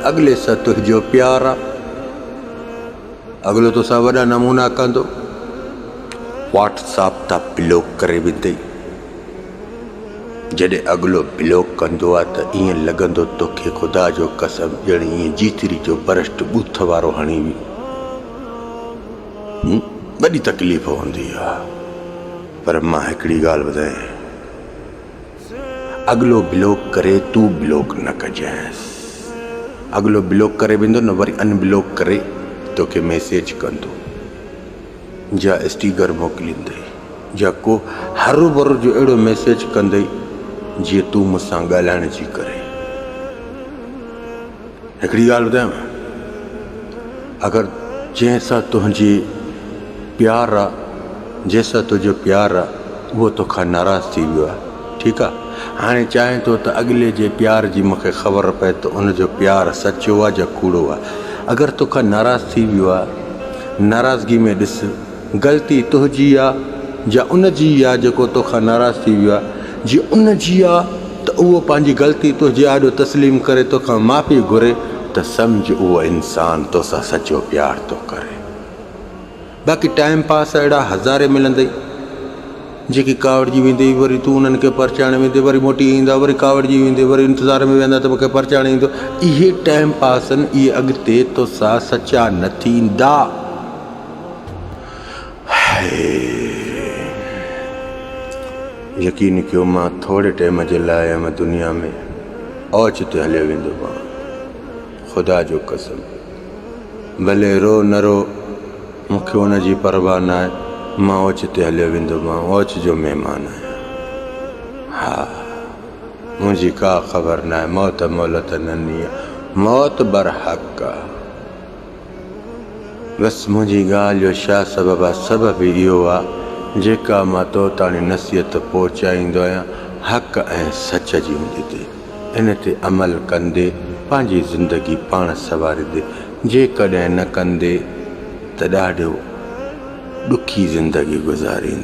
اڳلي سان تنهنجو پيار آ. اڳلو توسان وڏا نمونا ڪندو. واٽس آپ تان بلاڪ ڪري ويندئي. جڏهن اڳلو بلاڪ ڪندو آ ته ائين لڳندو توکي خدا جو قسم ڄڻ ائين جيتري جو برشٽ ٻوٿ وارو هڻي ويو. وڏي تڪليف هوندي آ. پر مان هڪڙي ڳالهه ٻڌايانء. اڳلو بلاڪ ڪري تون بلاڪ نه ڪجانس اڳلو بلاڪ ڪري ويندو نه وري ان بلاڪ ڪري توکي ميسيج ڪندو جا اسٽيگر موڪليندئي جا ڪو هر ور جو اهڙو ميسيج ڪندئي جي تون مون سان ڳالهائڻ جي ڪري هڪڙي ڳالهه ٻڌايان اگر جنهن سان تنهنجي پيار آ جنهن سان تنهنجو پيار آ اهو توکان ناراض ٿي ويو آ ٺيڪ آ هاڻي چاهين ٿو ته اڳلي جي پيار جي مونکي خبر پئي ته ان جو پيار سچو آ جا ڪوڙو آ اگر توکان ناراض ٿي ويو آ ناراضگي ۾ ڏس غلطي تنهنجي آ يا ان جي آ جيڪو توکان ناراض ٿي ويو آ. جي ان جي آ ته اهو پنهنجي غلطي تنهنجي آڏو تسليم ڪري توکان معافي گهري ته سمجهه اهو انسان توسان سچو پيار ٿو ڪري. باقي ٽائيم پاس اهڙا هزارين ملندئي جيڪي ڪاوڙجي ويندي وري تون انهن کي پرچائڻ ويندي وري موٽي ايندا وري ڪاوڙجي ويندي وري انتظار ۾ ويهندا ته مونکي پرچائڻ ايندو اهي ٽائيم پاسن اهي اڳتي توسان سچا نه ٿيندا. يقين ڪيو مان ٿوري ٽيم جي لاء ھن دنيا ۾ اوچتي ھليو ويندو ھئان خدا جو قسم ڀلي رو نه رو مون کي ان جي پرواھ ناھي مان اوچتي ھليو ويندو مان اوچ جو مھمان آھيان ھا منھنجي ڪا خبر ناھي موت مھلت نھي موت برحق آھي. بس منهنجي ڳالهه جو ڇا سبب آ؟ سبب اهو آ جيڪا مان تو تاڻي نصيحت پهچائيندو آهيان حق ۽ سچ جي هوندي تي ان تي عمل ڪندي پنهنجي زندگي پاڻ سنواريندي جيڪڏهن نه ڪندي ته ڏاڍو ڏکي زندگي گذاريندي.